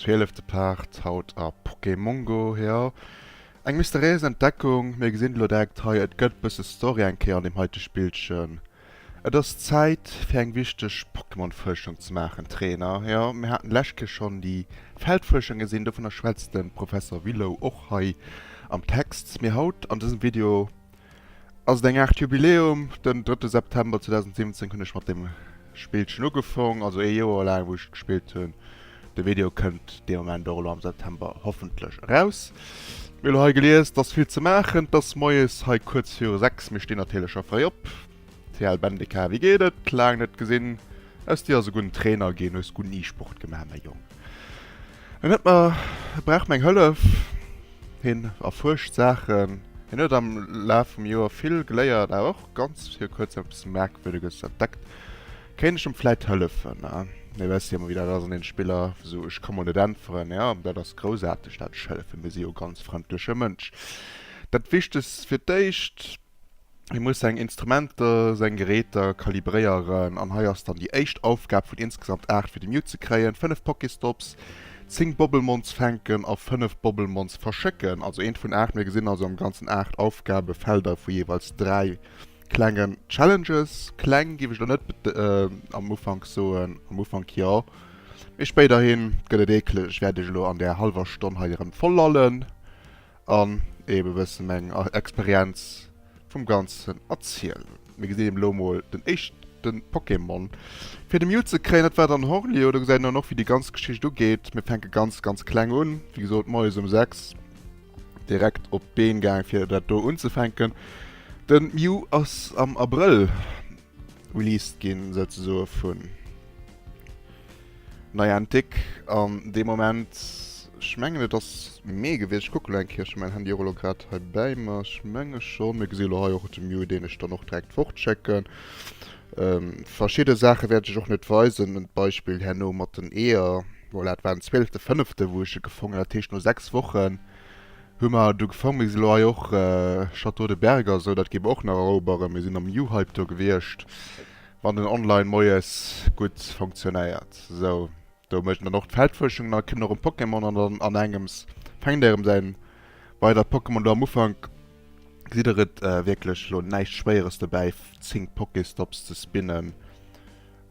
Zwielefte Part haut a Pokémongo, jo eng mysteriéis Entdeckung. Mir gesinn elo direkt hei, et gëtt bësse Story eng Kéier an deem heite Spillchen. Et ass Zäit fir eng wichteg Pokémon-Fuerschung ze maachen, Trainer. Jo, mir haten d'lescht Kéier schonn déi Feldfuerschung gesinn, dovunner schwätzt de Professor Willow och hei am Text. Mee haut an dësem Video Ass et eng Aart Jubiläum? Den 3 September 2017 hunn ech mat dem Spillchen ugefong, also ee Joer laang wou ech et gespillt hunn. De Video kënnt dee Moment och elo am September hoffentlech eraus. Mir elo hei gelies, et ass vill ze maachen, et ass moies hei kuerz viru 6, mir stinn natierlech scho fréi op. TL Bendeka wéi geet et? Laang net gesinn. Aus dir ass e gudden Trainer ginn, hues gudd ni Sport gemaach mäi Jong. En huet mer, e brauch meng Hëllef, hien erfuerscht Saachen, hien huet am Laf vum Joer vill geléiert awer och ganz vir kuerz eppes Merkwürdeges entdeckt. Kéint ech em vläit hëllefen? Mir wësse jo mol wéi dat ass an den Spiller esou, ech ka mol net äntweren. Jo, dat ass groussaarteg dat ech hëllefen, mir si jo ganz frëndleche Mënsch. Dat wichtegst fir d'éischt. Mir musse seng Instrumenter, seng Geräter kalibréieren an hei ass dann déi éischt Aufgab vun insgesamt 8 fir de Mute ze kréien, 5 Pokéstops, 10 Bobblemons fänken a 5 Bobblemons verschécken. Also eent vun 8, mir gesinn also am ganzen 8 Aufgabefelder vu jeeweils 3 klengen Challenges. Kleng géif ech der net am Ufank soen, am Ufank jo, mee spéiderhi gëtt et eekeleg, wäert ech elo an där hallwer Stonn hei erëm voll lallen. an eben e bëssen meng Experienz vum Ganzen erzielen. Mir gesinn eben elo emol den éischten Pokémon fir de Mew ze kréien. Dat war dann Horlio. Do gesäit een dann och wéi déi ganz Geschicht ugeet. Mir fänken ganz ganz kleng un, wéi gesot moies um 6 direkt op d'Been gaangen fir dat do unzefänken. Den Mew ass am Abrëll Released ginn, souzesoe vun Niantic. An dee Moment, ech mengen et ass Mee gewiescht, ech kucke lo eng Kéierchen, mäin Handy och elo grad hei bäi mer, ech menge schonn, mir gesi elo hei och de Mew, deen ech dann och direkt fortschécken. Verschidde Saache wäert ech och net weisen, en Beispill herno mat den Eeër, voilà, et war den 12.5. wou ech e gefongen hunn, dat heescht no 6 Wochen. Hu mer do gefaang, mee si lo hei och. Château de Berg a sou, dat gi mer och nach eroberen. Mir sinn am Juhypto gewiescht, wann den Online moies gutt funktionéiert. Sou, do mécht en dann och d'Feldfuerschung, da kënnt nach en Pokémon an dann an engems fänkt erëm säin weidert Pokémon. Do am Ufank gesitt der et wierklech lo näischt Schwéieres dobäi, 10 Pokéstops ze spinnen.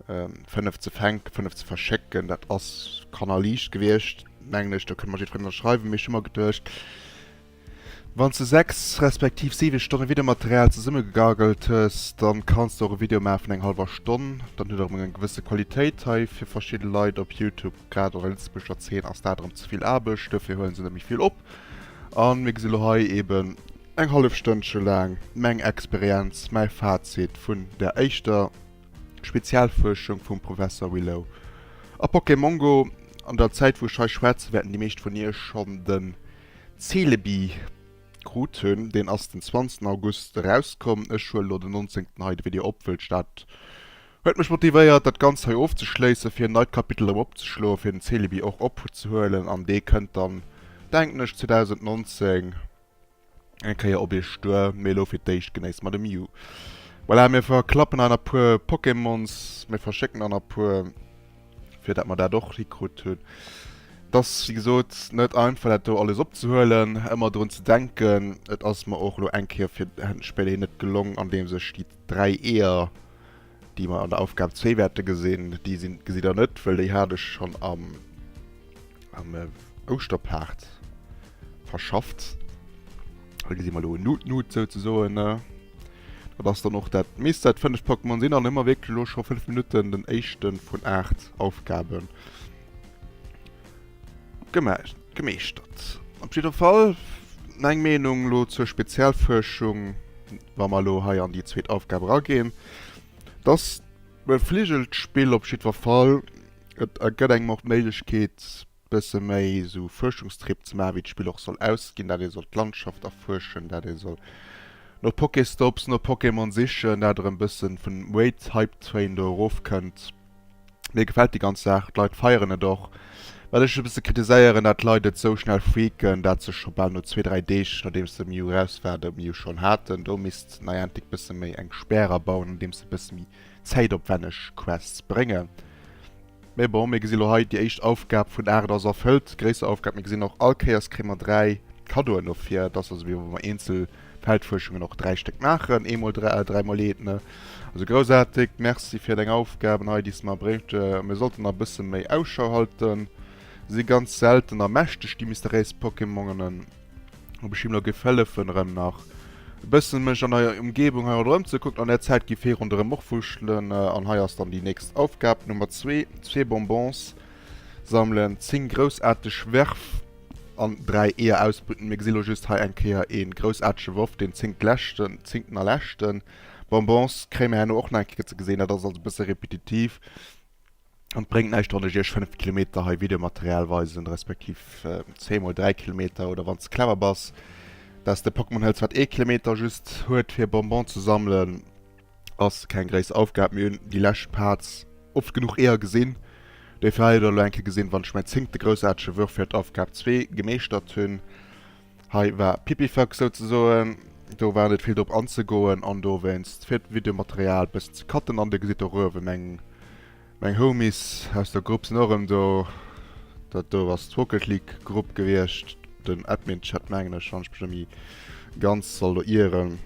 5 ze fänken, 5 ze verschécken, dat ass kannerliicht gewiescht, mengen ech. Do kënne mer jiddwereen ënnerschreiwen. Mee ech hu mer geduecht, Wann s de 6 respektiv 7 Stonne Videomaterial zesummegegaggelt hues, da kanns de och e Video maache vun enger hallwer Stonn. Dat huet erëm eng gewësse Qualitéit. Hei fir verschidde Leit op Youtube, grad an der lëtzebuergescher Zeen, ass dat erëm ze vill Aarbecht. Dofir huele se net méi vill op. A mir gesi lo hei eeben eng hallef Stënnche laang meng Experienz, mäi Fazit vun der éischter. Spezialfuerschung vum Professor Willow a Pokémongo An der Zäit wou ech hei schwätzen, wäerten déi meescht vun iech schonn den Celebi krut hunn. Deen ass den 20 August erauskomm. Ech huelen elo den 19 hei de Video op, wëllt dat huet mech motivéiert dat Ganzt hei ofzeschléissen, fir en neit Kapitel erëm opzeschloen, fir den Celebi och opzehuelen an dee kënnt dann denken ech 2019. Eng Kéier op Iech duer, mee elo fir d'éischt genéisst mer de Mew. Voilà, mir verklappen eis nach puer Pokémons, mir verschécken der nach puer, fir dat mer dat och hikrut hunn. Et ass wéi gesot net einfach dat do alles opzehuelen, ëmmer drun ze denken. Et ass mer och elo eng Kéier fir d'Spéléi net gelong, andeems ech déi 3 Eeër déi mer an der Aufgab zwee wäerte gesinn, déi sinn, gesitt Der net, well déi hat ech schonn am Ouschterpaart verschafft. Da gesi mer elo en Nut-Nut souzesoen. Dat ass dann och dat meescht dat fënneft Pokémon sinn an hu mer wierklech elo scho fënnef Minutten den éischte vun aacht Aufgabe gemaach. Gemeeschtert. Op jidder Fall meng Meenung elo zur Spezialfuerschung, wa mer elo hei an déi zweet Aufgab erageen, dass d'Befligelt d'Spill op jiddwer Fall, et ergëtt engem och d'Méiglechkeet bësse méi esou Fuerschungstrip ze maachen, wéi d'Spill och soll ausginn, dat ee soll d'Landschaft erfuerschen, dat ee soll no Pokéstops, no Pokémon sichen, dat erëm bësse vun Wait, Hype Train do erofkënnt. Mir gefällt déi ganz Saach, d'Leit feieren et och. Wat ech e bësse kritiséieren, dat d'Leit et sou schnell freaken, dat se scho bal no zwee, dräi Deeg nodeems de Mio eraus war, de Mio schonn haten. Do misst Niantic bësse méi eng Spär erabauen, andeems se bësse méi zäitopwänneg Quests bréngen. Mee bon, mir gesi lo hei, déi éischt Aufgab vun 8 ass erfëllt, gréisser Aufgab. Mir gesinn och, all Kéiers kréie mer 3 Kaddoen dofir. Et ass also wéi wa mer eenzel. Feldfuerschungen och 3 Stéck maachen, ee mol dräi a dräi mol ee, ne? Also groussaarteg, merci fir deng Aufgaben hei, déi s de mer bréngt. Mir sollten nach e bësse méi Ausschau halten. Se si ganz selten a mächteg, déi mysteriéis Pokémonen. Ob ech him elo géif hëllefen, erëm nach e bëssen mech an der Ëmgebung hei ronderëm ze kucken. An där Zäit géif hie ronderëm och wurschtelen. An hei ass dann déi nächst Aufgab, Nummer zwee, Zwee Bonbons sammelen, zéng groussaarteg Werf. an 3 Eeër ausbrüten. Mir gesi lo just hei eng Kéier ee groussaartege Worf, deen zéngt leschten, zéngten a leschten. Bonbons kréie mir herno och nach eng Kéier ze gesinn. Dat ass also e bësse repetitiv an bréngt näischt, wann ech iech 5 Kilometer hei Videomaterial weisen, respektiv zeemol 3 Kilometer, oder wann s de clever bass, dass de Pokémon hëls, wat ee Kilometer just huet, fir Bonbon ze sammelen. Ass keng gréisser Aufgab. Mir hunn déi lescht Parts oft genuch eeër gesinn. Déi vläicht oder elo eng Kéier gesinn, wann ech mäin zéngte groussaartege Würf fir d'Aufgab zwee gemeeschtert hunn. Hei war Pipifax souzesoen. Do war net vill drop anzegoen an dowéinst fir d'Videomaterial e bëssen ze cutten. An Dir gesitt och uewen eng. Meng Homies aus der Grupp sinn och erëm do. Dat do ass d'Rocket League Grupp gewiescht. Den Admin Chat mengen ech wann ech mech net méi ganz soll do ieren.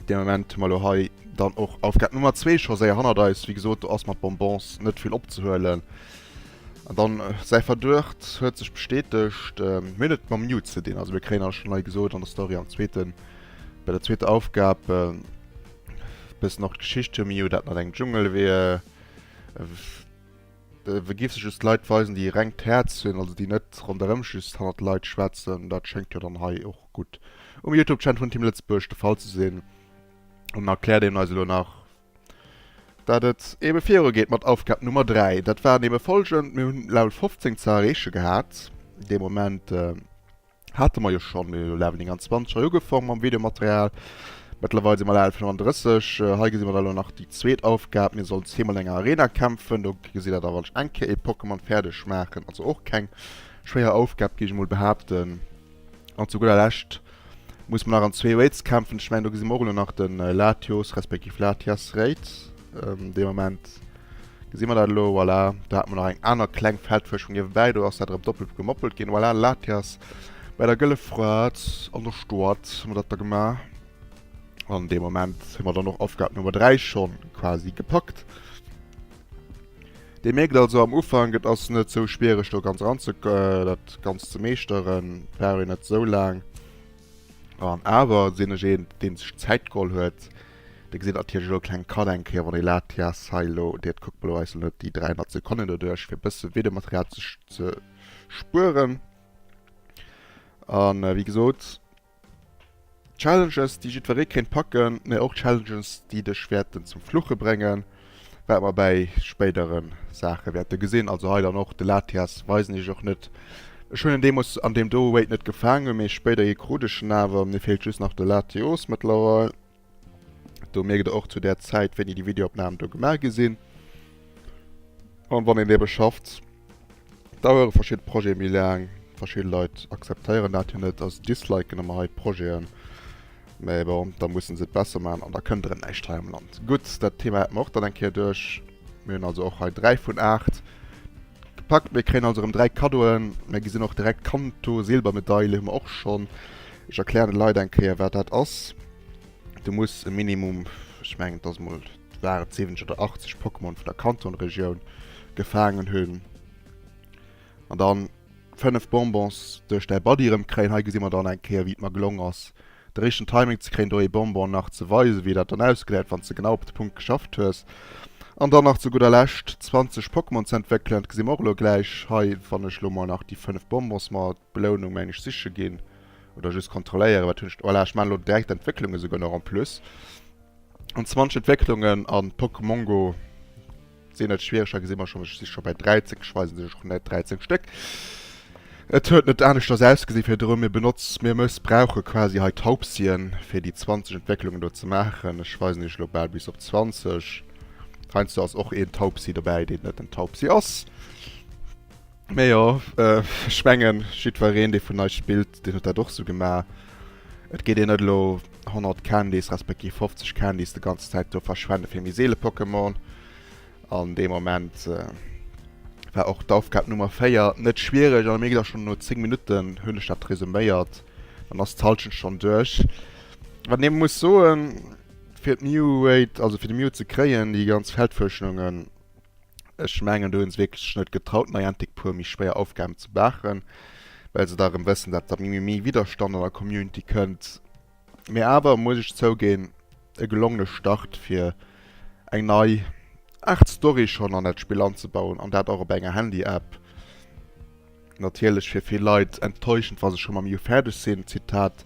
Dee Moment hu mer elo hei dann och Aufgabe Nummer zwee scho séier hannert eis. Wéi gesot do ass mat Bonbons net vill opzehuelen. An dann säi Verduecht huet sech bestätegt. Mir hunn et mam Newt ze dinn. Also mir kréien, ech hunn hei gesot an der Story am zweeten, bei der zweeter Aufgab, Bessen och d'Geschicht hir Mio dat mat engem Dschungel wier we giff se just Leit weisen déi e rengt Häerz hunn also déi net ronderëm just hannert Leit schwätzen dat schéngt jo dann hei och gutt um Youtube Channel vun Team Lëtzebuerg de Fall ze sinn an erkläert een eis elo nach dat et ebe viru geet mat Aufgab Nummer 3 dat waren ebe folgend mir hunn Level 15 ze erreeche gehat dee Moment. Hate mer jo schonn, elo lafen 29 hei ugefangen mam Videomaterial. Mëttlerweil si mer leider 35. Hei gesi mer da elo nach déi zweet Aufgab, mir sollen zeemol an enger Arena kämpfen. Do gesi der da wann ech eng Kéier ee Pokémon fäerdeg maachen, also och keng schwéier Aufgab géif ech emol behaapten. An zu gudder Lescht muss mer nach an zwee Raids kämpfen, ech mengen do gesi mer och elo nach de Latios respektiv Latias Raid, dee Moment. Gesi mer dat elo? Voilà, do hat mer nach eng aner kleng Feldfësch vun niewebäi. Do ass dat erëm doppelt gemoppelt ginn. Voilà, Latias bei der gëlle Fraet an der Stad hu mer dat da gemaach. An dee Moment hu mer dann och Aufgabe Nummer 3 schonn quasi gepackt. Dir mierkt also am Ufank, et ass net sou schwiereg, do ganz eran ze, dat Ganzt ze meeschteren. Et brauch een net sou laang. An awer sinn ech een, dee sech Zäit geholl huet. Dir gesitt natierlech elo e klenge Cut eng Kéier, wann ee lat, ja, Sail lo, dir, et kuckt mol elo eis net déi 300 Sekonnen doduerch, fir e bësse Videomaterial ze ze spueren. A wéi gesot, Challenges, déi jiddweree kéint packen, mä och Challenges, déi dech wäerten zum Fluche bréngen, wat mer bäi spéidere Saache wäerte gesinn. Also hei dann och de Latias weisen iech och net. Ech hunn en deemoos an deem do Weight net gefaangen, mee spéider ierkkrut ech en awer. Mir feelt just nach de Latios mëttlerweil. Do mierkt der och zu där Zäit, wéini déi Videoopnamen do gemaach gi sinn. An wann een ebe schafft, dauere verschidde Projete méi laang. Verschidde Leit akzeptéieren dat jo net a disliken ëmmer hei d'Projeten. Mä bon, da musse se et besser maachen an da kënnt erëm näischt hei am Land. Gutt, dat Thema haten mer och dann eng Kéier duerch. Mir hunn also och hei 3 vun 8 gepackt. Mir kréien also erëm 3 Kaddoen. Mir gesinn och direkt Kanto, Silbermedaile hu mer och schonn. Ech erklären de Leit eng Kéier, wat dat ass. Du muss e Minimum, ech mengen et ass emol, waren et 70 oder 80 Pokémon vun der Kanton-Regioun gefaangen hunn. An dann 5 Bonbons duerch däi Buddy erëm kréien. Hei gesi mer dann eng Kéier, wéi et mer gelong ass, De richten Timing ze kréien do ee Bonbon nach ze weisen wéi dat dann ausgesäit wanns de genau op de Punkt geschafft hues. An dann nach zu gudder Lescht 20 Pokémon ze entwéckelen, dat gesi mer och elo gläich hei wann ech elo mol nach déi 5 Bonbons mer d'Belounung mengen ech siche ginn oder just kontrolléieren wat hunn ech voilà ech maan elo direkt d'Entwécklung esouguer nach en plus an 20 Entwécklungen an Pokémongo. sinn net schwiereg, da gesi mer schonn, ech si scho bäi 13, ech weisen sech och net, 13 Stéck. Et huet net aneschters ausgesi virdru, mir benotz, mir mëssbrauche quasi hei Taubsien, fir déi 20 Entwécklungen do ze maachen. Ech weisen iech elo bal bis op 20. Heiansdo ass och een Taubsi dobäi, deen net en Taubsi ass. Mee jo, ech mengen, jiddwereen, dee vun eis spillt, deen huet dat och esou gemaach. Et geet een net elo 100 Candys, respektiv 50 Candys déi ganz Zäit do verschwende fir méi seele Pokémon. An dee Moment war och d'Aufgab Nummer 4 net schwiereg, a mir ginn da schonn no 10 Minutten, hunn ech dat resuméiert, dann ass d'Hallschent schonn duerch. Wat een muss soen, fir d'Mew-Rate, also fir de Mew ze kréien, déi ganz Feldfuerschunge, Ech mengen, do hu se wierklech sech net getraut, Niantic puer méi schwéier Aufgaben ze maachen, well se da erëm wëssen, datt da méi Widderstand an der Community kënnt. Mee awer muss ech zouginn, e gelongene Start fir eng nei Aart Story schonn an dat Spill anzebauen, an dat och op enger Handy-App. Natierlech fir vill Leit enttäuschend, wa se scho mam Jus fäerdeg sinn. Zitat,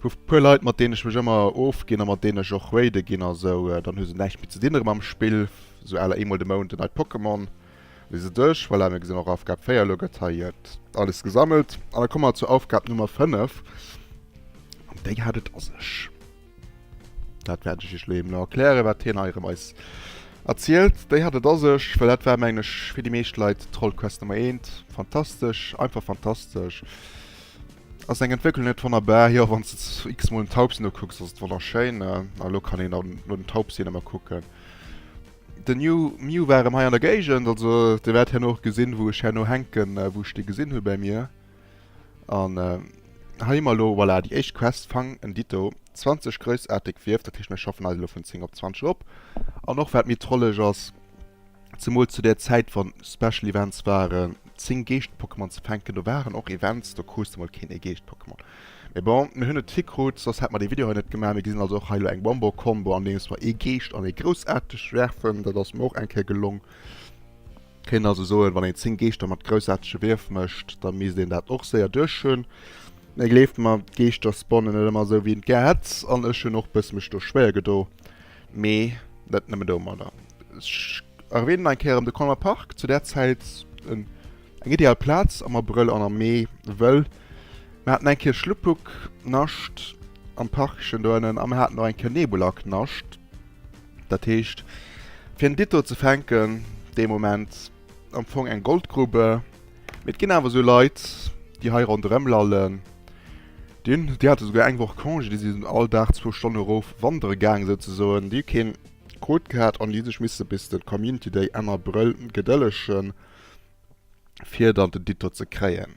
Vu puer Leit, mat deenen ech mech ëmmer ofginn a mat deenen ech och raide ginn a sou, dann hu se näischt méi ze dinn erëm am Spill, sou aler eemol de Mount en neit Pokémon, lese dech. Voilà, mir gesinn och Aufgab 4, elo gëtt hei alles gesammelt. An da komme mer zur Aufgab Nummer 5, an déi hat et a sech. Dat wäert ech iech lo eben erklären, wat hien hei erëm eis erzielt. Déi hat et a sech, well dat war, mengen ech, fir déi meescht Leit Trollquest Nummer eent. Fantastesch, einfach fantastesch. Ass eng Entwécklung net wonnerbar? Jo, wann s de x-mol den Taubsi nokucks, ass et wonnerschéin. A lo kann een dann no den Taubsi nach emol kucken. Den New Mew war erëm hei an der Géigend, also Dir wäert herno och gesinn, wou ech herno hänken, wou ech dee gesinn hu bei mir. An hei hu mer elo, voilà, déi éischt Quest, Fang en Ditto, 20 groussaarteg Wierf. Dat heescht, mir schaffen eis elo vun 10 op 20 erop. An och wat méi trolleg ass, zemools zu där Zäit, wa Special Events waren, 10 Geescht-Pokémon ze fänken, do waren och Events, do krus de mol keen ee Geescht-Pokémon. Mee bon, mir hunn et hikrut, soss hätt mer dee Video hei net gemaach. Mir gesinn also och hei elo eng Wombo-Kombo, andeems mer ee Geescht an ee Groussaarteg werfen. Dat ass mer och eng Kéier gelong. Kéint een also soen, wann een 10 Geeschter mat groussaartege Wierf mécht, da misst een dat och séier duerch hunn. Mee gleeft mer, d'Geeschter spawnen net ëmmer esou wéi een et gär hätt, an ech hunn och e bësse mech do schwéier gedo. Mee net nëmme domadder. Ech erwänen nach eng Kéier erëm de Colmer Park, zu där Zäit en eng ideal Plaz am Abrëll an am Mee, wëll mer haten eng Kéier Schluppuk, Nascht, am Parkchen do ënnen a mer haten och eng Kéier Nebulak, Nascht. Dat heescht, fir en Ditto ze fänken, dee Moment am Fong eng Goldgrube. Mee et ginn awer esou Leit, déi hei ronderëm lallen, déi hate souguer eng Woch Congé, déi sinn all Dag zwou Stonne erof wandere gaangen, souzesoen. Déi hu keen Kot gehat an déi hu sech misse bis de Community Day Enn Abrëll gedëllegen, fir dann den Ditto ze kréien.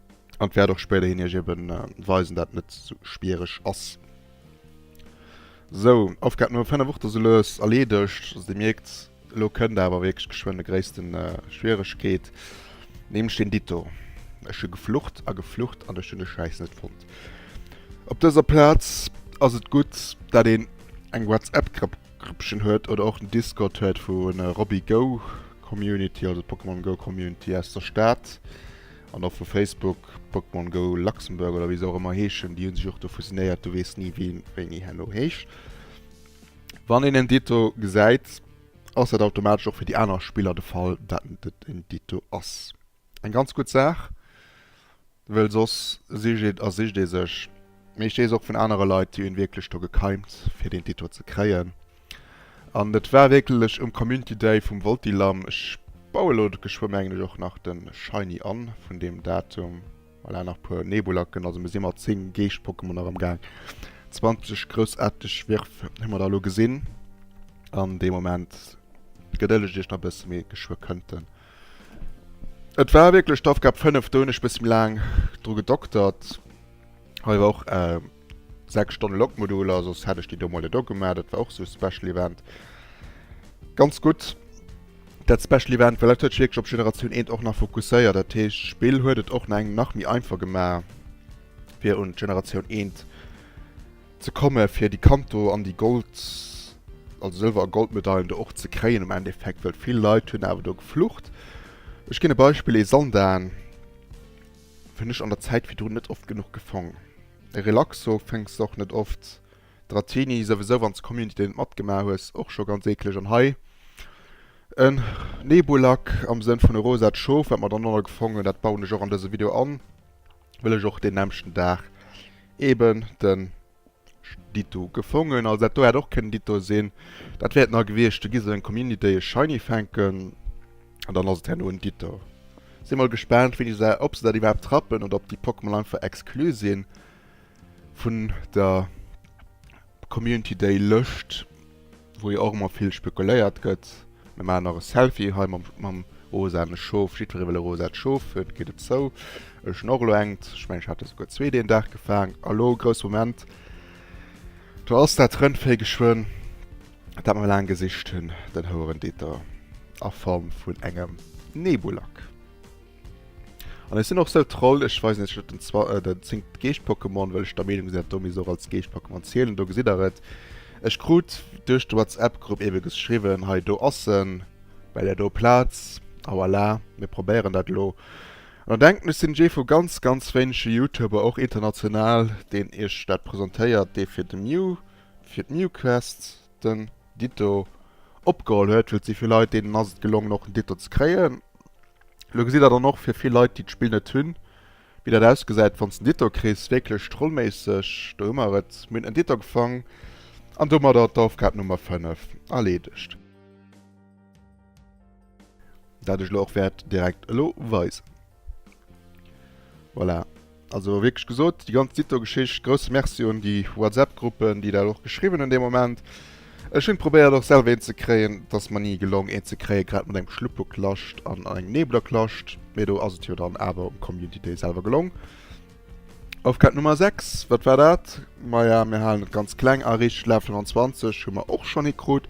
An et wäert och spéiderhin iech eben weisen dat et net sou schwiereg ass. Sou, Aufgab Nummer 5 och do sou lues erleedegt. Also dir mierkt, elo kënnt awer wierklech geschwënn de gréissten Schwieregkeet, nämlech deen Ditto. Ech hu geflucht a geflucht an ech hunn de Schäiss net fonnt. Op dëser Plaz ass et gutt dat een eng Whatsapp Grëppchen huet oder och den Discord huet vu Robbie Go Community, also d'Pokémon Go Community aus der Stad. An och vu Facebook, Pokémon Go Luxembourg oder wéi se och ëmmer heeschen, déi hu sech och do fusionéiert, du weess ni wien wéini herno heescht. Wann een en Ditto gesäit, ass dat automatesch och fir déi aner Spiller de Fall, dat et en Ditto ass. Eng ganz gutt Saach, well soss sicht et a sicht ee sech. Mee ech weess och vun anere Leit, déi hunn wierklech do gekeimt fir deen Ditto ze kréien. An et war wierklech um Community Day vum Voltilam, ech baue lo geschwë mengen ech och nach de Shiny an vun deem Datum, voilà nach puer Nebulacken, also mir si mat 10 Geescht Pokémon nach am gaang, 20 groussaarteg Wirf hu mer da lo gesinn an dee Moment, gedëllegt iech nach bësse mee geschwë kënnt en. Et war wierklech d'Aufgab 5, do hunn ech bësse méi laang dru gedoktert, hei war och. 6 Stonne Lokmoduler, soss hätt ech déi do mol net ugemaach. Dat war och esou e Special Event. Ganz gutt dat Special Event, well dat huet sech wierklech op Generatioun Eent och nach fokusséiert. Dat heescht, d'Spill huet et och nach engem nach méi einfach gemaach, fir un d'Generatioun Eent ze kommen, fir déi Kanto an déi Gold, also Sëlwer a Goldmedailen do och ze kréien am Endeffekt. Well vill Leit hunn awer do geflucht. Ech ginn e Beispill, ee Sandaan. Hun ech an der Zäit virdrun net oft genuch gefong. E Relaxo fënks och net oft. Dratini souwisou wanns de Community Day net matgemaach hues och scho ganz eekleg an hei en Nebulak am Sënn vun e rosat Schof wat mer dernonner gefong hun. Dat bauen ech och an dëse Video an well ech och deen nämschten Daag eben den Ditto gefongen, also dat do hätt och kënnen Ditto sinn. Dat wär et na gewiescht. Du giss eng Community e Shiny fänken an dann ass et herno en Ditto. Sinn mol gespaant wéini se, ob se dat iwwerhaapt trappen oder ob déi Pokémon einfach exclu sinn vun der Community Day Lëscht. wou jo och ëmmer vill spekuléiert gëtt, mir maachen nach e Selfie hei mam rosaene Schof, jiddweree wëll e rosaat Schof, et geet et zou, ech hunn och elo engt, ech mengen ech hat der souguer zwee deen Dag gefaang, a lo, grousse Moment, do ass dat Rëndvéi geschwënn, dat mer laang gesicht hunn, den Houerenditter a Form vun engem Nebulak. An ech sinn och sou Troll, ech weisen iech elo den zwa den zéngt Geescht-Pokémon, well ech der Meenung sinn, datt do misst och als Geescht-Pokémon zielen. Do gesitt der et. Ech krut duerch de WhatsApp-Grupp ebe geschriwwen, hei do ass en, well der do Plaz. A voilà, mir probéieren dat elo. An der denkt, ech sinn ee vu ganz, ganz wéinege Youtuber, och international, deen iech dat presentéiert, dee fir de Mew, fir d'Mewquest den Ditto opgeholl huet, well et si vill Leit, deenen ass et gelongen och en Ditto ze kréien. Lo gesitt der dann och fir vill Leit déi d'Spill net hunn, wéi dat ausgesäit wanns de en Dito kriss, wierklech trollméisseg. Do hu mer et, mir hunn en Dito gefang an domadder d'Aufgab Nummer 5 erleedegt. Dat ech lo och wäert direkt elo weisen. Voilà. Also wierklech gesot, déi ganz Dito-Geschicht, grousse Merci un déi WhatsApp-Gruppen, déi dat och geschriwwen hunn dee Moment. Ech hunn probéiert och selwer een ze kréien, et ass mer ni gelong een ze kréien, grad mat engem Schluppeklscht an engem Neblerklscht, mee do ass et jo dann awer um Community Day selwer gelong. Aufgabe Nummer 6, wat war dat? Maja, mir halen et ganz kleng a riicht, Laf 25 hu mer och schonn hikrut,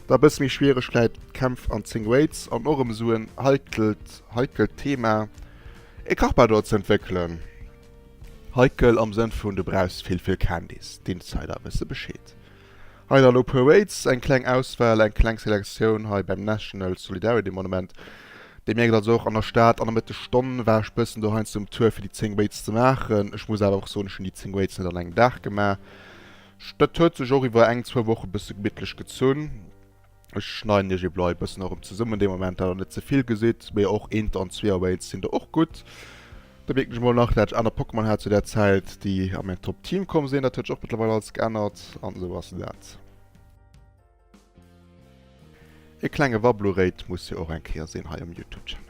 da bësse méi schwiereg vläit, Kämpf an 10 Weights an och erëm esou en heikelt, heikelt Thema. E Carpador ze entwéckelen. Heikel am Sënn vun du brauchs vill vill Candys, d'Insider wësse Bescheed. Hei dann opu Waits, eng kleng Auswahl, eng kleng Selektioun hei beim National Solidarity Monument. Dir mierkt also och an der Stad an der Mëtteg Stonn war ech bëssen dohein zum Tour fir déi 10 Waits ze maachen. Ech muss awer och soen, ech hunn déi 10 Waits net an engem Dag gemaach, dat huet sech och iwwer eng, zwou Woche bësse gemittlech gezunn. Ech schneiden iech eeblo e bëssen erëm zesummen dee Moment, dat der net zevill gesitt. Mee och Inter an zwee Awakens sinn do och gutt. Da mierken ech emol nach, dat ech aner Pokémon hat zu där Zäit, déi a mäin Top Team komm sinn. Dat huet sech och mëttlerweil alles geännert. An esou ass dat. E klenge Wabluréit muss jo och eng Kéier sinn hei um Youtube Channel.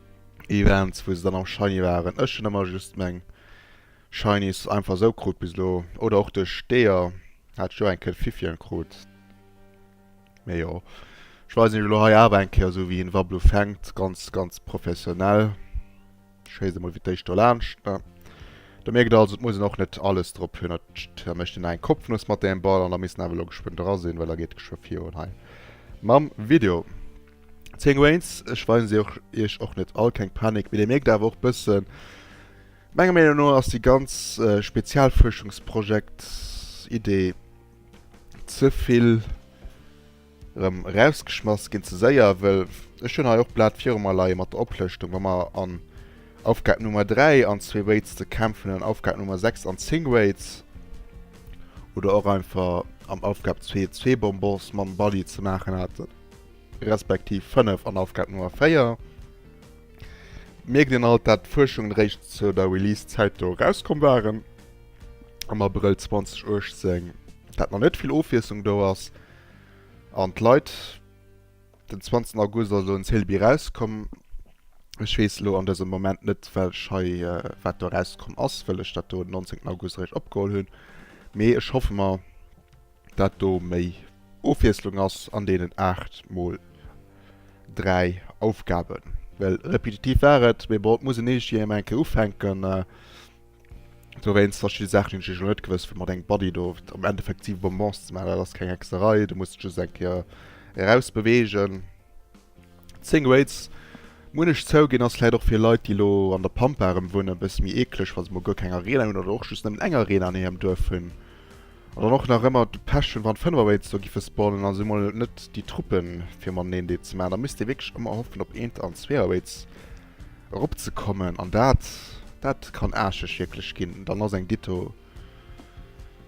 Events wou se dann am Shiny waren. Ech hunn ëmmer just meng Shinies einfach sou krut bis elo. Oder och duerch d'Eeër hat ech jo eng Kéier d'Fifion krut. Mee jo, ech weisen iech elo hei awer eng Kéier esou wéi een Wablu fänkt, ganz ganz professionell. Ech schéisse emol fir d'éischt do laanscht. Do mierkt der also, et muss een och net alles drop hunn. Da mécht een eng Kopfnuss mat deem Ball an da misst en awer elo geschwënn dra sinn, well da geet geschwë virun hei mam Video. 10 Wains, ech weisen se och iech och net all, keng Panik, mee dir mierkt awer och bëssen, menger Meenung no ass déi ganz Spezialfuerschungsprojekt-Idee ze vill erëm erausgeschmass ginn, ze séier, well ech hunn hei och d'Blat viru mer leie mat der Oplëschtung, wa mer an Aufgab Nummer 3 an zwee Waits ze kämpfen hunn, an Aufgab Nummer 6 an 10 Waits, oder och einfach am Aufgab 2 zwee Bonbons mam Bali ze maachen haten. respektiv 5 an Aufgab Nummer 4, mierkt een alt, dat d'Fuerschungen eréischt zu der Release-Zäit do erauskomm waren, am Abrëll 2018, dat nach net vill Ofwiesslung do ass an d'Leit den 20 August also en Celebi erauskomm. Ech weess elo an dësem Moment net wellech hei wat do erauskomm ass, wëll ech dat do den 19 August eréischt opgeholl hunn, mee ech hoffe mer, dat do méi Ofwiesslung ass an deenen 8 mol 3 Aufgaben, well repetitiv war et, mee bon, et muss een iergendwéi emmer eng Kéier ufänken. Dowéinst verschidde Saachen hunn ech iergendwéi net gewësst, wéi mat engem Buddy do am Endeffekt 7 Bonbons ze maachen, dat ass keng Hexerei, du muss just eng Kéier erausbeweegen. 10 Grades muenn ech zouginn ass vläit och fir Leit déi elo an der Pampa erëm wunnen e bësse méi eekleg wa se mol guer keng Arena hunn oder och just nëmmen eng Arena an hirem Duerf hunn an dann och nach ëmmer de Pech hunn wann 5 Away do giffe spawnen a se mol net déi Truppe fir mateneen dee ze maachen da misst ee wierklech ëmmer hoffen op eent an zwee Away erop ze kommen an dat dat kann aarscheg wierklech ginn. Dann ass eng Ditto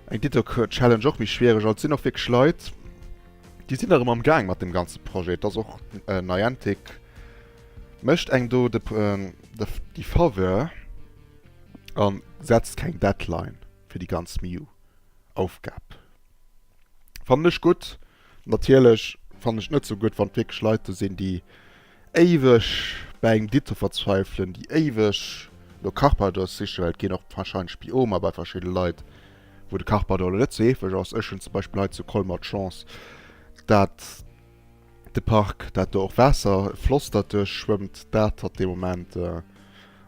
eng Ditto Challenge och méi schwiereg an et sinn och wierklech Leit Déi sinn erëm am Gaang mat deem ganze Projet. Et ass och Niantic mécht engem do de Faveur a setzt keng Deadline fir déi ganz Mew Aufgab. Fannen ech gutt. Natierlech fannen ech net sou gutt wann et wierklech Leit do sinn déi Éiweg bei engem Dito verzweifelen, déi éiweg no Carpadors sichen, well et ginn och warscheinlech Biomer bei verschidde Leit, wou de Carpador elo net sou heefeg ass. Ech hunn zum Beispill hei zu Colmer d'Chance, dat de Park, dat do och Waasser, e Floss dat duerch schwëmmt, dat hat de Moment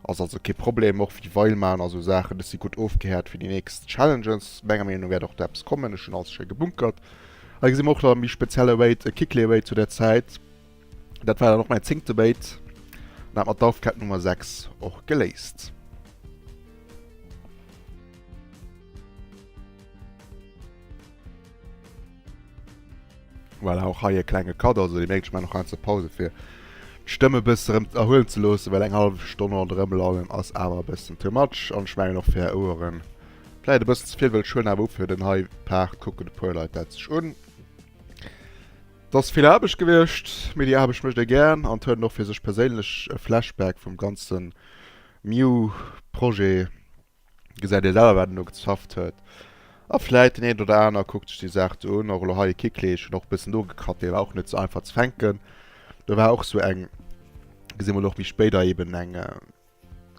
ass also kee Problem. Och wéi Weil maachen a sou Saachen, dës si gutt ofgehäert fir déi nächst Challenges. Menger Meenung no wäert och do eppes kommen. Ech hunn alles schéi gebunkert. Hei gesi mer och nach e méi spezielle Wait, e Kickley-Wait zu där Zäit. Dat war dann och mäin zéngte Debate an hat mer d'Aufgab Nummer 6 och geléist. Voilà, och hei e klenge Cut, also Dir mierkt, ech maachen och ganz e Pause fir d'Stëmm e bësse rëm erhuelen ze loossen, well eng hallef Stonn ronderëm lannen ass awer e bëssen too much an ech mengen och fir Är Ouere vläicht e bëssen ze vill, wëll ech huelen awer u fir den hei Part, kucken e puer Leit dat sech un. Et ass vill Aarbecht gewiescht, mee déi Aarbecht mécht ee gären an et huet een och fir sech perséinlech e Flashback vum ganze Mew-Projet, gesäit ee selwer wat een do gezafft huet a vläit deen een oder aner kuckt sech déi Saach do un. Och elo hei e Kikli, ech hunn och e bëssen nogekratt, dee war och net sou einfach ze fänken, do war och sou eng, gesi mol och méi spéit, a eeben eng.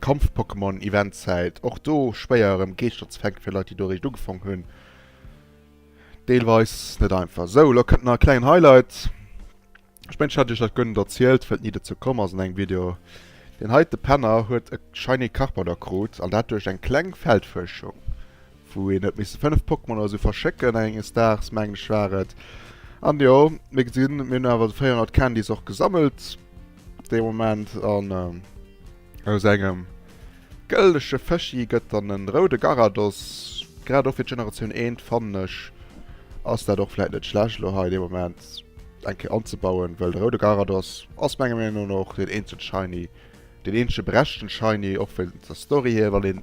Kampf-Pokémon Eventzäit, och do schwéier erëm Geeschter ze fänken, fir Leit déi do eréischt ugefangen hunn, deelweis net einfach. Sou, elo kënnt nach e klengen Highlight, ech mengen ech hat iech dat guer net erzielt, well et ni dozou komm ass an engem Video. Deen heite Penner huet e Shiny Carpador krut, an dat duerch eng kleng Feldfuerschung. wou een huet misse 5 Pokémon oder sou verschécken enges Daags mengen ech war et, an jo mir gesinn mir hunn awer 400 Candys och gesammelt dee Moment an aus engem gëlldege Fëschi gëtt dann en roude Garados, grad och fir d'Generatioun 1 fannen ech ass dat och vläit net schlecht elo hei dee Moment eng Kéier anzebauen, well de roude Garados ass menger Meenung no och deen eenzege Shiny, deen eenzege berechten Shiny och vun der Story hier wann een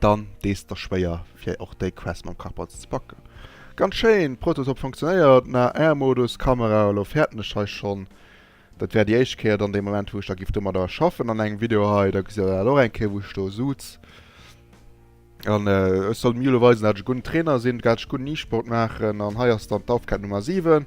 dann dees da schwéier fir och déi Quest mam Karpatz ze packen. Ganz schéin, Prototop funktionéiert, mä Air Modus, Kamera, elo fäerten ech hei schonn, dat wär déi éischt Kéier dann dee Moment wou ech da giff domadder schaffen an engem Video hei, da gesitt der dat och eng Kéier wou ech do suz an ech soll mir elo weisen dat ech e gudden Trainer sinn, dat ech gudden E-Sport maachen an hei ass dann d'Aufgab Nummer 7.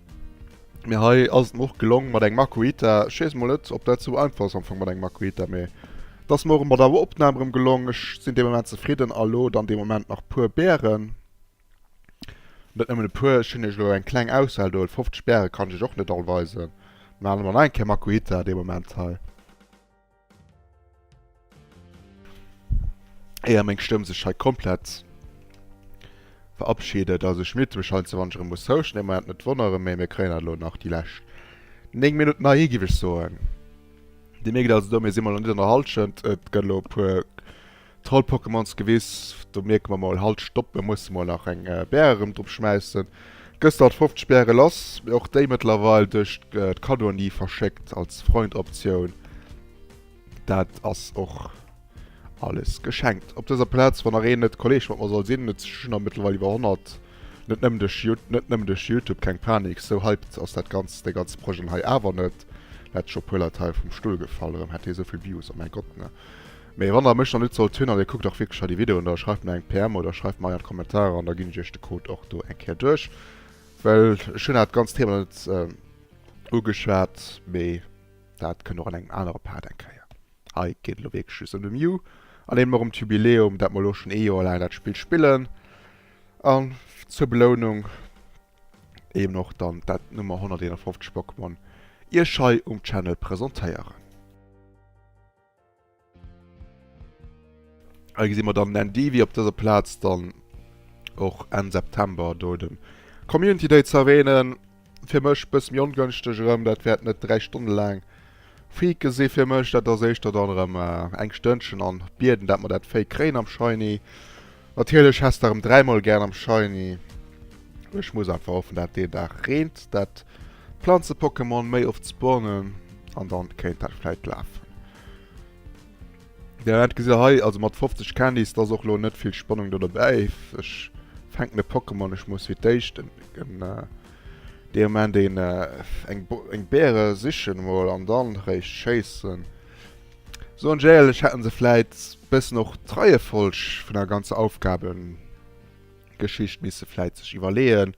Mee hei ass et mer och gelong mat engem Makuhita. Ech weess mol net op dat sou einfach ass am Fong mat engem Makuhita, mee et ass mer och bei der Opnahm erëm gelong. Ech sinn dee Moment zefridden a lo dann dee Moment nach puer Bären. Net nëmmen e puer, ech hunn iech elo eng kleng Auswahl do, 50 Bäre kann ech iech och net all weisen. Maache mer nach eng Kéier Makuhita dee Moment hei. Éier meng Stëmm sech hei komplett verabschiedet, also ech mute mech heiansdo wann ech erëm muss houschten, et mer dat net wonneren, mee mir kréien dat elo nach déi lescht 9 Minutten ahi giff ech soen. Dir mierkt also do, mir si mol nach net an der Halschent, et gëtt elo e puer. Trollpokémons gewiss, do mierke mer mol, halt stopp, mir musse mol nach eng Bär erëm drop schmäissen. Gëschter hat 50 Bäre lass, mee och déi mëttlerweil duerch d'Cadeaunie verschéckt als Freund-Optioun. Dat ass och alles geschenkt op dëser Plaz. Wann nach een net Kolleeg mat mer soll sinn, et sinn der mëttlerweil iwwer 100, net nëmmen duerch Yout net nëmmen duerch Youtube, keng Panik, sou hyped ass dat ganz dee ganze Projet hei awer net, wäert scho e puer Leit hei vum Stull gefall, erëm hätt dee souvill Views, oh mäi Gott, ne. Mee wann der mech nach net sollt hunn, an dir kuckt dach wierklech hei déi Videoen, da schreift mer eng PM oder schreift mer hei an d'Kommentarer, an da ginn ech iech de Code och do eng Kéier duerch. Well ech hunn dat ganzt Thema net ugeschwat, mee dat kënnt och an engem anere Part eng Kéier. Hei geet et elo wierklech just ëm de Mew an eben och ëm d'Jubiläum, dat mer elo schonn ee Joer laang dat Spill spillen, a zur Belounung eben och dann dat Nummer 151 Pokémon iech hei um Channel presentéieren. Hei gesi mer dann den Endivi op dëser Plaz dann och Enn September do de Community Day ze erwänen. Fir mech bësse méi ongënschteg erëm, dat wäert net 3 Stonne laang Fake si fir mech. Dat ass éischter dann erëm eng Stënnchen an bieden, dat mer dat Fake kréien am Shiny. Natierlech häss de rem 3 mol gern am Shiny, mee ech muss einfach hoffen dat deen Dag reent, dat Planze Pokémon méi oft spawnen an dann kéint dat vläit laafen. Den Ament gesitt der hei, also mat 50 Candys, dass och lo net vill Spannung do dobäi if. Ech fänken e Pokémon, ech muss fir d'éischt en dee Ament een eng Beere sichen mol an dann réischt schéissen. Sou an Jail-ech hätten se vläit bëssen och d'Reiefolg vun der ganzer Aufgabengeschicht misse vläit sech iwwerleeën.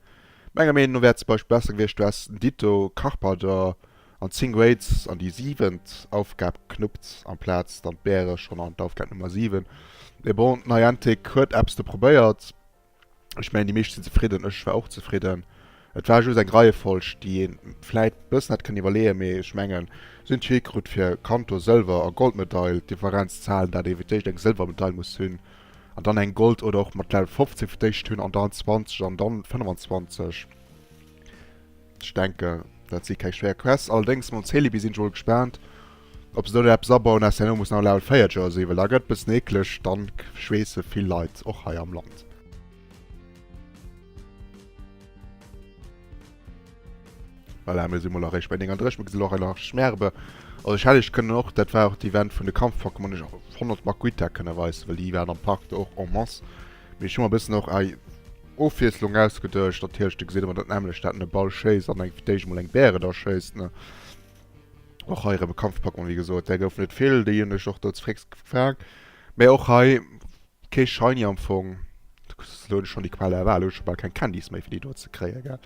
Menger Meenung no wär zum Beispill besser gewiescht du häss den Ditto Carpenter an 10 Grades an déi siwent Aufgab knuppt amplaz dann d'Bäere schonn an d'Aufgab Nummer 7. Mee bon, Niantic huet eppes do probéiert. Ech mengen, déi meescht sinn zefridden. Ech war och zefridden. Et war just eng Reiefolg, déi ee vläit e bëssen hätt kënnen iwwerleeën. Mee ech mengen, si hunn d'Jury krut fir Kanto Sëlwer a Goldmedail. D'Differenz ze halen, dat ee fir d'éischt eng Sëlwermedail muss hunn an dann eng Gold oder och mat Level 15 fir d'éischt hunn an dann 20 an dann 25, Ech denken, dat si keng schwéier Quests. Allerdéngs mam Celebi sinn ech emol gespaant, ob se do net eppes abauen, aus där Nummer muss nach e Level 4 Jersey, well da gëtt et e bëssen eekleg, dann schweesse vill Leit, och hei am Land. Voilà, mir si mol eréischt bei 39, mir gesinn och hei nach Schmerbe. Also ech hätt iech kënnen och, dat war och d'Event vun de Kampf-Pokémon, iech och 100 Makuita kënne weisen, well déi waren am Park do och en masse. Mee ech hu mer e bëssen och hei Ofwiesslung ausgeduecht, dat heescht, do gesin emmer dat nämmlecht, dat en e Ball schéisst an eng fir d'éischt emol eng Bäre da schéisst, ne. Och hei erëm e Kampfpackon, wéi gesot, där gouf net vill, déi hunn ech och do ze fréchst gefang, mä och hei kee Shiny am Fong, elo hunn ech schonn déi Qual der Wahl, elo hu ech scho bal keng Candys méi fir déi do ze kréien, gell.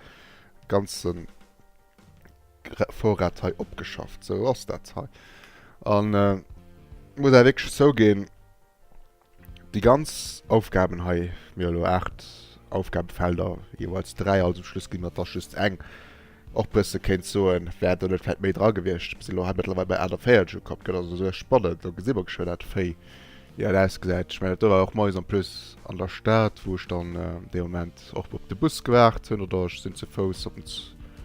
Ganzen Vorrat hei opgeschafft, sou ass dat hei an muss awer wierklech zouginn, Déi ganz Aufgaben hei, mir hu elo 8 Aufgabefelder, jeeweils 3, also um Schluss ginn der Tâche just eng, och bësse kéint soen, wär do net vläicht méi dra gewiescht. Mir sinn elo hei mëttlerweil bei 48 ukomm, gëtt also souguer spannend. Do gesi mer geschwë dat wéi dat ausgesäit. Ech mengen, dat do war och moies en plus an der Stad, wou ech dann dee Moment och op de Bus gewaart hunn oder ech sinn ze Fouss op en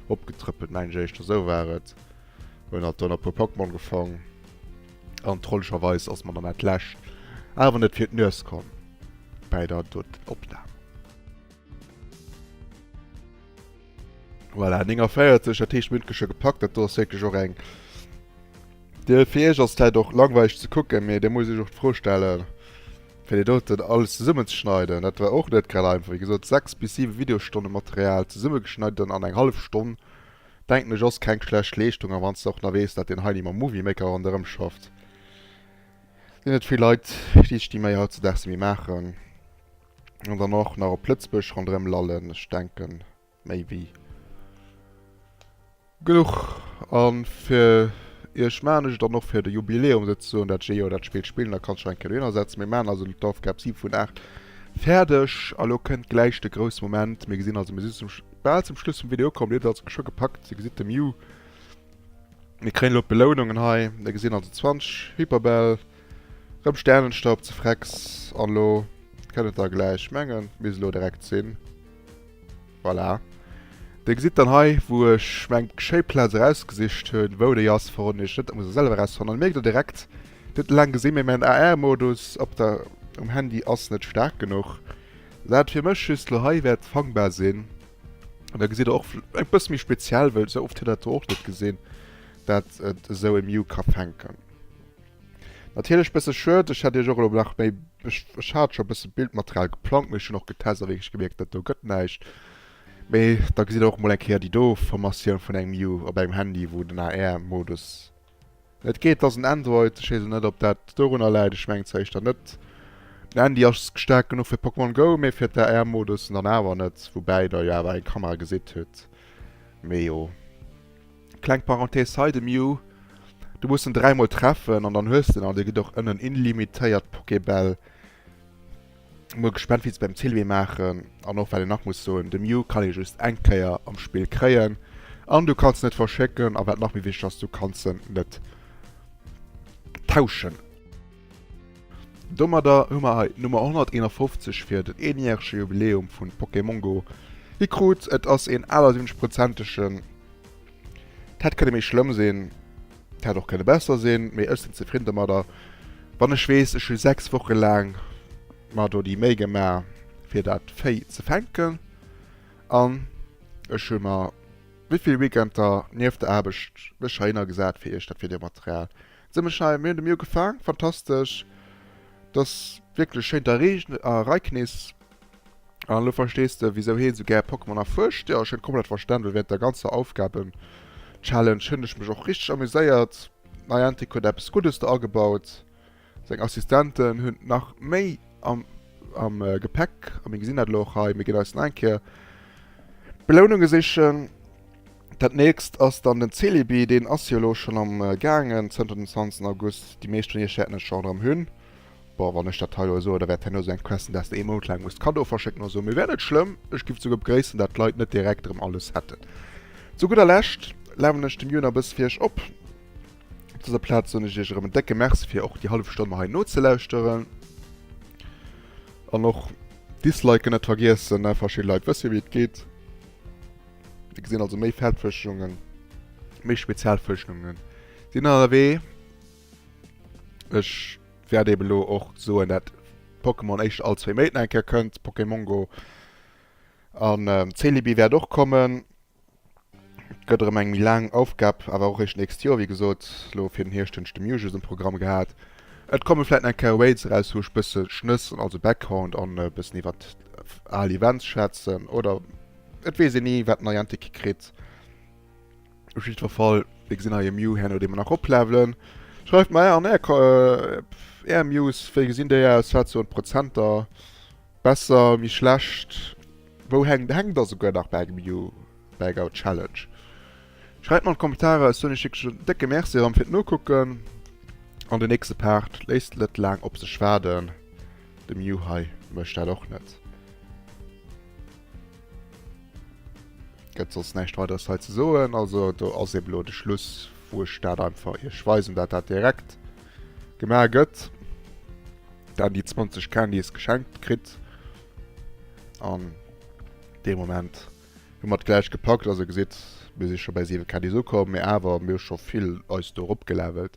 opgetrëppelt, mengen ech éischter, esou war et. Hunn halt do nach e puer Pokémon gefong. An trollegerweis ass mer dann dat lescht awer net fir d'Nues komm bäi der Dot Opnahm. Voilà, 49, dat heescht mir hunn d'Geschir gepackt. Dat do ass wierklech och eng Dir fir Iech ass et vläit och langweileg ze kucken, mee Dir musst Iech och d'Fro stellen, fir déi doten alles zesummen ze schneiden. Dat war och net grad einfach. Wéi gesot, 6 bis 7 Videostonne Material zesummegeschneiden an eng hallef Stonn Denken ech ass keng schlecht Leeschtung, a wanns de och nach wees dat den Heini mam Movie Maker ronderem schafft, sinn et vill Leit déi sech déi Méi hautzedags nemme maachen an dann och nach op Lëtzbuerg ronderem lallen. Ech denken méi wéi genuch an fir iech maachen ech et dann och fir de Jubiläum sou ze soen, dat ech ee Joer dat Spill spillen, da kanns du nach eng Kéier dohinner setzen. Mir maachen also d'Aufgab 7 vun 8 fäerdeg a lo kënnt gläich de grousse Moment, mir gesinn also, mir si zum. Bal zum Schluss vum Video komm mir et also scho gepackt, dir gesitt de Mew, mir kréien elo d'Belounungen hei, mir gesinn also 20 Hyperbäll, rëm Sternenstaub ze Frex an elo kënnt et da gläich, mengen misst elo direkt sinn, voilà, dir gesitt dann hei wou ech mir eng schéi Plaz erausgesicht hunn, wou déi ass verroden ech net, dat muss der selwer erausfannen, mierkt der direkt dir hutt laang gesinn, mee mäin AR Modus op der um Handy ass net staark genuch. Wat fir mech just lo hei wäert fangbar sinn, an da gesitt der och e bësse méi speziell, well sou oft huet dat do och net gesinn, dat et esou e Mew ka fänken. Natierlech e bësse schued, ech hätt iech och elo nach méi, ech hat scho e bësse Bildmaterial geplangt, mee ech hunn och getest a wierklech gemierkt, dat do gëtt näischt. Mee da gesitt der och emol eng Kéier déi do Formatioun vun engem Mew op engem Handy, wou den AR-Modus Et geet dass en Android, ech wees net op dat dorunner läit, ech mengen zwar eischter net, den Handy ass staark genuch fir Pokémon Go, mee fir d'AR Modussen dann awer net, woubäi der jo awer eng Kamera gesitt hutt, mee jo. Kleng Parenthese hei, de Mew, du muss en 3 mol treffen an dann hues de en, an de gëtt och ënnen illimitéiert Pokébäll. Mol gespannt wéi se beim Zilwee maachen an och wat een nach muss soen, de Mew kann ee just eng Kéier am Spill kréien an du kanns en net verschécken a wat nach méi wichteg ass, du kanns en net tauschen. Domadder hu mer hei d'Nummer 151 fir den eenjärege Jubiläum vun Pokémon Go gekrut. Et ass een 78 prozentegen, dat hätt kënne méi schlëmm sinn. Hätt och kënne besser sinn, mee ech sinn zefridden domadder, wann ech weess, ech hu 6 Woche laang mer do déi Méi gemaach fir dat Véi ze fänken an ech hu mer wéivill Weekender nieft der Aarbecht mech heihinner gesat fir iech dat Videomaterial ze mechai. Mir hunn de Mee ugefaang, fantastesch, et ass wierklech schéin, der Reeknis An elo verstees de wisou heen sou gär Pokémon erfuerscht. Jo, ech hunn et komplett verstanen, well während der ganzer Aufgaben Challenge hunn ech mech och richteg amuséiert. Niantic huet eppes Guddes do agebaut. Seng Assistenten hunn nach méi am am Gepäck a mir gesinn dat elo och hei. Mir ginn eis nach eng Kéier Beloununge sichen. Dat nächst ass dann den Celebi, deen ass jo elo schonn am gaangen zënter dem 20 August. Déi meescht vun iech wäerten en schon erëm hunn. Boah, wann ech dat hei elo soen, da wäert herno sou eng Question, däers de ee Mount laang musst Cadeaue verschécken oder sou. Mee wär net schlëmm, ech giff souguer begréissen, dat d'Leit net direkt erëm alles hätten. Zu gudder Lescht lawen ech dem Jun a bëss fir iech op. Op dëser Plaz soen ech iech erëm en décke Merci fir och déi hallef Stonn mer hei nozelauschteren. An och d'Disliken net vergiessen, ne? Verschidde Leit wësse jo wéi et geet. Dir gesinn also, méi Feldfuerschungen, méi Spezialfuerschungen sinn ënnerwee. Ech wäert eben elo och soen, dat Pokémon éischter all zwee Méint eng Kéier kënnt, Pokémon Go. An Celebi wäert och kommen. Gëtt erëm eng méi laang Aufgab, awer och éischt nächst Joer. Wéi gesot, elo fir den Hierscht hunn ech de Mewtwo um Programm gehat. Et komme vläit nach eng Kéier Raids eraus, wou ech bësse schnëssen, also Background, an e bëssen iwwer al Events schwätzen. Oder et weess een ni, wat Niantic kritt. Op jiddwer Fall, dir gesinn hei e Mew, herno dee mer nach oplevelen. Schreift mer an är Ko är Mews, wéi gesinn déi aus, wat soen d'Prozenter, besser, méi schlecht, wou hänkt, hänkt der souguer nach bei engem Mew, bei enger Challenge? Schreift mer an d'Kommentarer, ech soen iech wierklech en décke Merci erëm fir d'Nokucken an den nächste Part léisst net laang op sech waarden, de Mew hei mécht dat och net. Gëtt soss näischt weiders hei ze soen. Also do ass eben elo de Schluss, wou ech dat einfach iech weisen, dat dat direkt gemaach gëtt. Dann déi 20 Candys geschenkt kritt. An dee Moment hu mat gläich gepackt. Also gesitt, mir si scho bei 7 Candys ukomm, mee awer mir hu scho vill eis do eropgelevelt.